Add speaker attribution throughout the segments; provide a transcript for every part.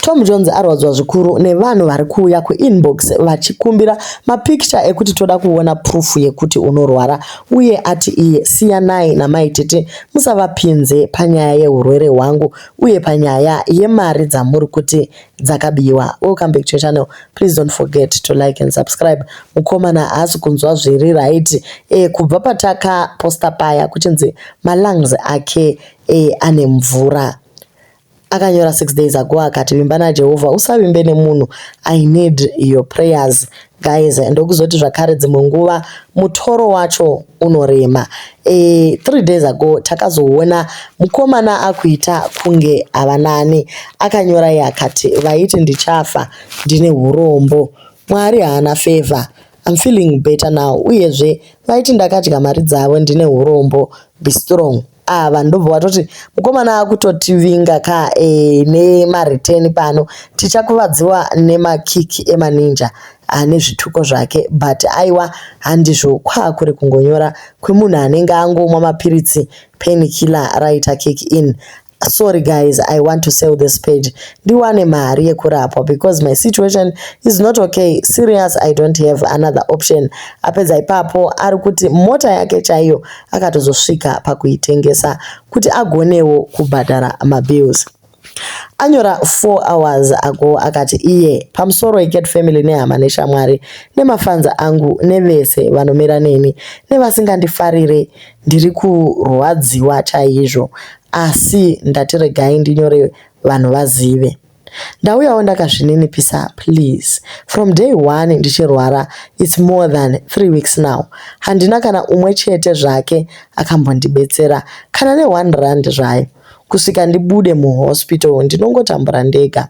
Speaker 1: Tom Jones arwadziwa zvikuru nevanhu vari kuuya kuinbox vachikumbira mapikicha ekuti toda kuona proof yekuti unorwara uye ati iye siyanai namai tete musavapinze panyaya yeurwere hwangu uye panyaya yemari dzamuri kuti dzakabiwa. Welcome back to your channel. Please don't forget to like and subscribe. Mukomana haasi kunzwa zviri right e, kubva patakaposta paya kuchinzi malungs ake e, ane mvura. akanyora six days ago akati vimba najehovha usavimbe nemunhu i need your prayers guys ndokuzoti zvakare dzimwe nguva mutoro wacho unorema e, three days ago takazoona mukomana akuita kunge avanani akanyora ye akati vaiti ndichafa ndine urombo mwari haana favor I'm feeling better now uyezve vaiti ndakadya mari dzavo ndine urombo be strong Ah vanhu ndobva watoti mukomana akutotivinga ka eh, nemareturn pano tichakuvadziwa nemakik emaninja ane zvituko zvake but aiwa handizvo kwaa kuri kungonyora kwemunhu anenge angomwa mapiritsi penikiller raita kick in sorry guys i want to sell this page ndiwane mari yekurapwa because my situation is not okay serious i don't have another option apedza ipapo ari kuti mota yake chaiyo akatozosvika pakuitengesa kuti agonewo kubhadhara mabills anyora 4 hours ago akati iye pamusoro icat family nehama neshamwari nemafanza angu nevese vanomira neni nevasingandifarire ndiri kurwadziwa chaizvo asi ndatiregai ndinyore vanhu vazive Ndauyawo ndakazvininipisa please. From day one ndichirwara it's more than three weeks now. Handina kana umwe chete zvake akambondibetsera kana ne one rand zvayo kusvika ndibude muhospital ndinongotambura ndega.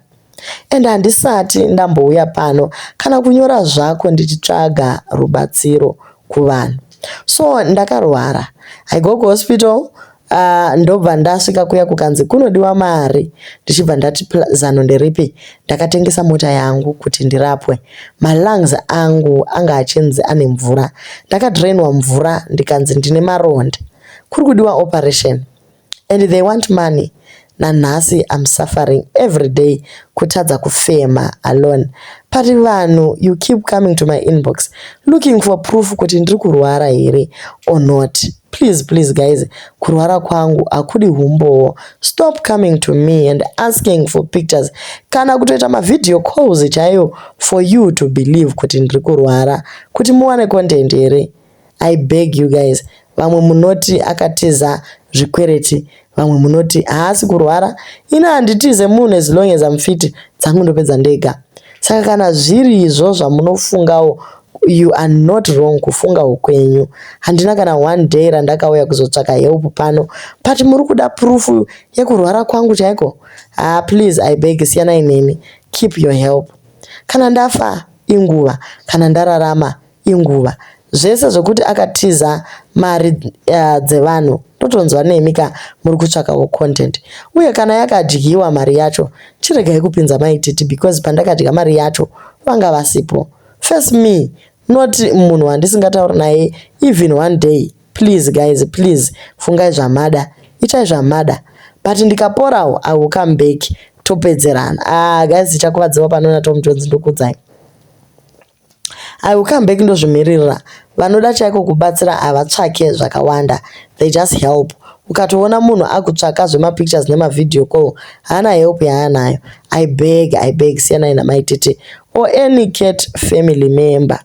Speaker 1: And handisati ndambouya pano kana kunyora zvako ndichitsvaga rubatsiro kuvanhu. So ndakarwara. I go kuhospital Uh, ndobva ndasvika kuya kukanzi kunodiwa mari ndichibva ndati zano nderipi ndakatengesa mota yangu kuti ndirapwe malungs angu anga achinzi ane mvura ndakadrainwa mvura ndikanzi ndine maronda kuri kudiwa operation and they want money nanhasi I'm suffering everyday kutadza kufema alone pari vanhu you keep coming to my inbox looking for proof kuti ndiri kurwara here or not please please guys kurwara kwangu hakudi humbowo stop coming to me and asking for pictures kana kutoita mavideo calls chaiyo for you to believe kuti ndiri kurwara kuti muwane content here I beg you guys vamwe munoti akatiza zvikwereti vamwe munoti haasi kurwara ini handitize munhu as long as amfiti dzangu ndopedza ndega saka kana zviri izvo zvamunofungawo you are not wrong kufunga ukwenyu handina kana one day randakauya kuzotsvaka help pano but muri kuda proof yekurwara kwangu chaiko ah please i beg siyanai neni keep your help kana ndafa inguva kana ndararama inguva zvese zvekuti akatiza mari uh, dzevanhu ndotonzwa nemi ka muri kutsvakawo content uye kana yakadyiwa mari yacho chiregai kupinza maititi because pandakadya mari yacho vanga vasipo first me not munhu wandisingatauri naye even one day please guys please fungai zvamada itai zvamada but ndikaporawo i will come back topedzerana ah guys tichakuvadzirwa panoona tom jones ndokudzai I will come back ndozvimiririra vanoda chaiko kubatsira havatsvake zvakawanda they just help ukatoona munhu akutsvaka zvemapictures nemavhideo call haana help yaanayo i beg i beg siyanai namai tete or any cat family member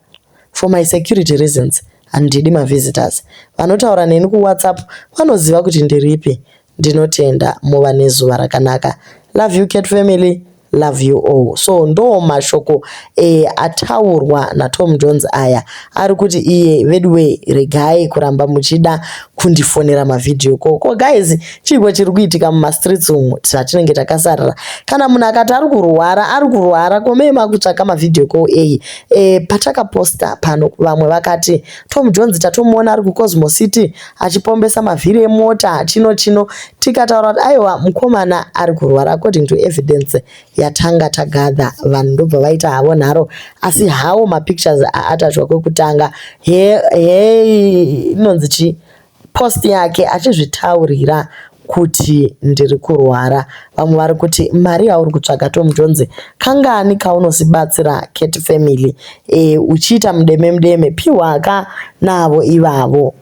Speaker 1: for my security reasons handidi mavisitors vanotaura neni kuwhatsapp vanoziva kuti ndiripi Ndinotenda muva nezuva rakanaka. Love you cat family. Love you all. So ndo mashoko e, ataurwa naTom Jones aya ari kuti iye veduwe regai kuramba muchida kundifonera mavideo ko ko guys chiiko chiri kuitika mumastreets umu tatinenge takasarira kana munhu akati ari kurwara ari kurwara komee makutsvaka mavideo ko eyi e, patakaposta pano vamwe vakati Tom Jones tatomuona ari kuCosmo City achipombesa mavhiri emota chino chino tikataura kuti aiwa mukomana ari kurwara according to evidence yatanga tagadha vanhu ndobva vaita havo nharo asi hawo mapictures aatachwa kwekutanga he he inonzi chii post yake achizvitaurira kuti ndiri kurwara vamwe vari kuti mari yauri kutsvaga Tom Jones kangani kaunosibatsira Cat family e, uchiita mudeme mudeme piwa ka navo ivavo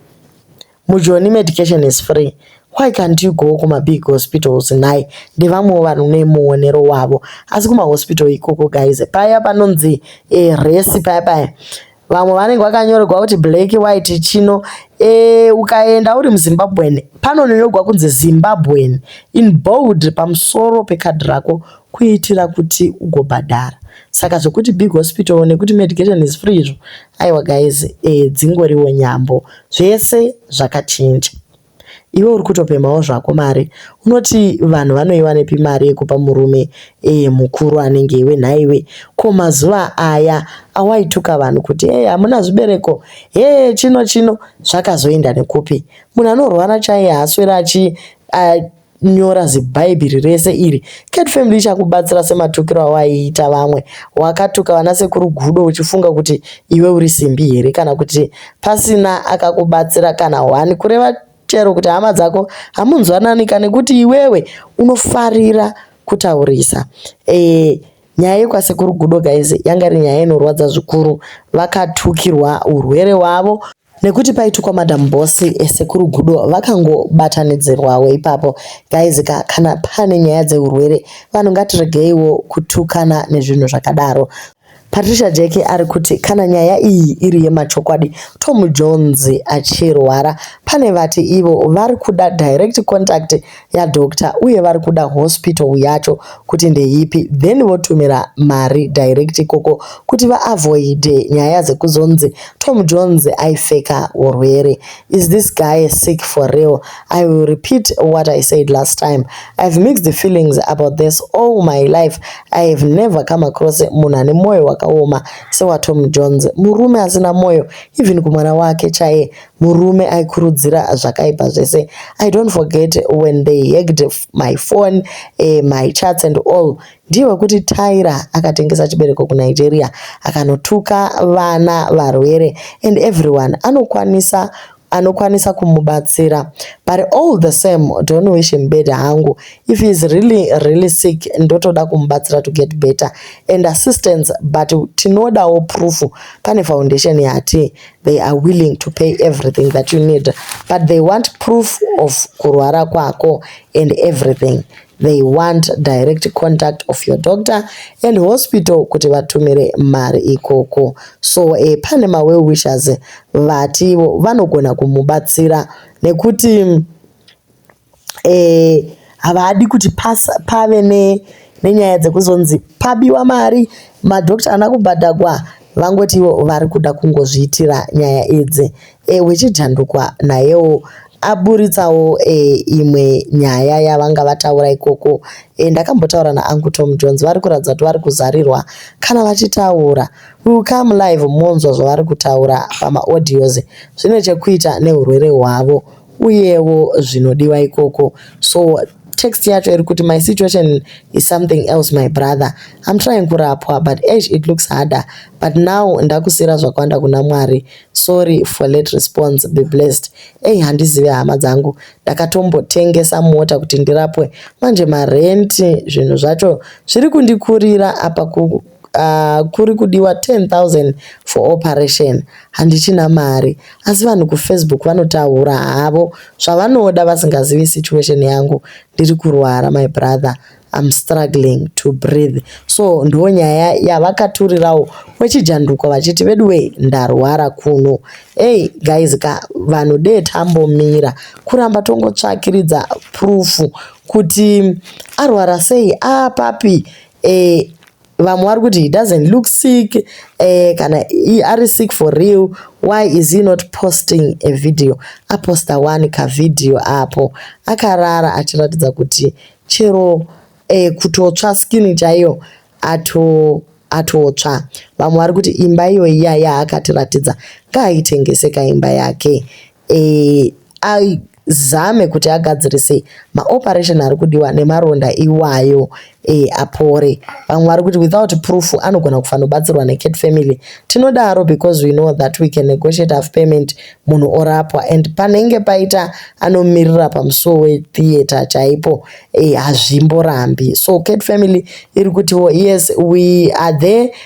Speaker 1: mujoni medication is free why can't you go kumabig hospitals nhai ndevamwewo vanhu nemuonero wavo asi kumahospital ikoko guys paya panonzi e, resi paya paya vamwe vanenge vakanyorerwa kuti black white chino e, ukaenda uri muzimbabwen panonyorwa kunzi zimbabwen in bold pamusoro pekadhi rako kuitira kuti ugobhadhara saka zvekuti big hospital nekuti medication is free izvo aiwa guys e, dzingoriwo nyambo zvese zvakachinja Iwe uri kutopemhawo zvako mari unoti vanhu vanoiwanepi mari yekupa murume eye mukuru anenge iwe nhaiwe ko mazuva aya awaituka vanhu kuti hey hamuna zvibereko hee chino chino zvakazoenda nekupi munhu anorwara chaiye haaswere achi uh, nyora zibhaibhiri rese iri cat family ichakubatsira sematukiro awaiita vamwe wakatuka vana sekuru gudo uchifunga kuti iwe uri simbi here kana kuti pasina akakubatsira kana one kureva chero kuti hama dzako hamunzwananika nekuti iwewe unofarira kutaurisa e, nyaya yekwasekuru gudo guys yanga iri nyaya inorwadza zvikuru vakatukirwa urwere hwavo nekuti paitukwa madam boss eh, sekuru gudo vakangobatanidzirwawo ipapo guys ka kana pane nyaya dzeurwere vanhu ngatiregeiwo kutukana nezvinhu zvakadaro patricia jeki ari kuti kana nyaya iyi iri yemachokwadi tom jones achirwara pane vati ivo vari kuda direct contact ya doctor uye vari kuda hospital yacho kuti ndeipi then votumira mari direct ikoko kuti vaavoide nyaya dzekuzonzi Tom Jones aifeka urwere is this guy sick for real I will repeat what I said last time I've mixed the feelings about this all my life I have never come across munhu ane mwoyo wakaoma sewa Tom Jones murume asina mwoyo even kumwana wake chaye murume aikurudzira zvakaipa zvese i don't forget when they hacked my phone uh, my charts and all ndiye wekuti tyra akatengesa chibereko kunigeria akanotuka vana varwere and everyone anokwanisa anokwanisa kumubatsira but all the same don't wish him better hangu if heis really really sick ndotoda kumubatsira to get better and assistance but tinodawo proof pane foundation yati they are willing to pay everything that you need but they want proof of kurwara kwako and everything they want direct contact of your doctor and hospital kuti vatumire mari ikoko so e, pane mawell wishers vativo vanogona kumubatsira nekuti eh, havadi kuti pasa, pave ne, nenyaya dzekuzonzi pabiwa mari madoctor ana kubhadhagwa vangoti ivo vari kuda kungozviitira nyaya idzi e, eh, wechijandukwa nayewo aburitsawo e, imwe nyaya yavanga vataura ikoko e, ndakambotaura naangu tom jones vari kuratidza kuti vari kuzarirwa kana vachitaura will come live monzwa zvavari kutaura pamaaudios zvine chekuita neurwere hwavo uyewo zvinodiwa ikoko so text yacho iri kuti my situation is something else my brother I'm trying kurapwa but eish it looks harder but now ndakusira zvakwanda kuna Mwari sorry for late response be blessed ei handizive hama dzangu ndakatombotengesa mota kuti ndirapwe manje marenti zvinhu zvacho zviri kundikurira apa ku uh, kuri kudiwa 10000 for operation handichina mari asi vanhu kufacebook vanotaura havo zvavanoda vasingazivi situation yangu ndiri kurwara my brother I'm struggling to breathe so ndo nyaya yavakaturirawo wechijanduko vachiti veduwe ndarwara kuno hey guys ka vanhu dee tambomira kuramba tongotsvakiridza proof kuti arwara sei apapi ah, eh, vamwe vari kuti he doesn't look sick eh, kana ari sick for real why is he not posting a video aposta wani kavidhiyo apo akarara achiratidza kuti chero eh, kutotsva skin chaiyo ato atotsva vamwe vari kuti imba iyoyi yaya akatiratidza ngaaitengese kaimba yake e, azame kuti agadzirise maoperation ari kudiwa nemaronda iwayo e, apore vamwe vari kuti without proof anogona kufanobatsirwa necat family tinodaro because we know that we can negotiate of payment munhu orapwa and panenge paita anomirira pamusuwo wetheatre chaipo e, hazvimborambi so cat family iri kutiwo yes we are there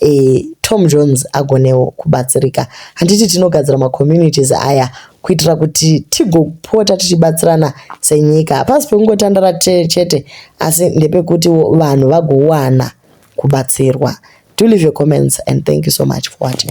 Speaker 1: eh, Tom Jones agonewo kubatsirika. Handiti tinogadzira macommunities aya kuitira kuti tigopota tichibatsirana senyika. Hapasi pekungotandara chete asi ndepekuti vanhu vagowana kubatsirwa. Do leave your comments and thank you so much for watching.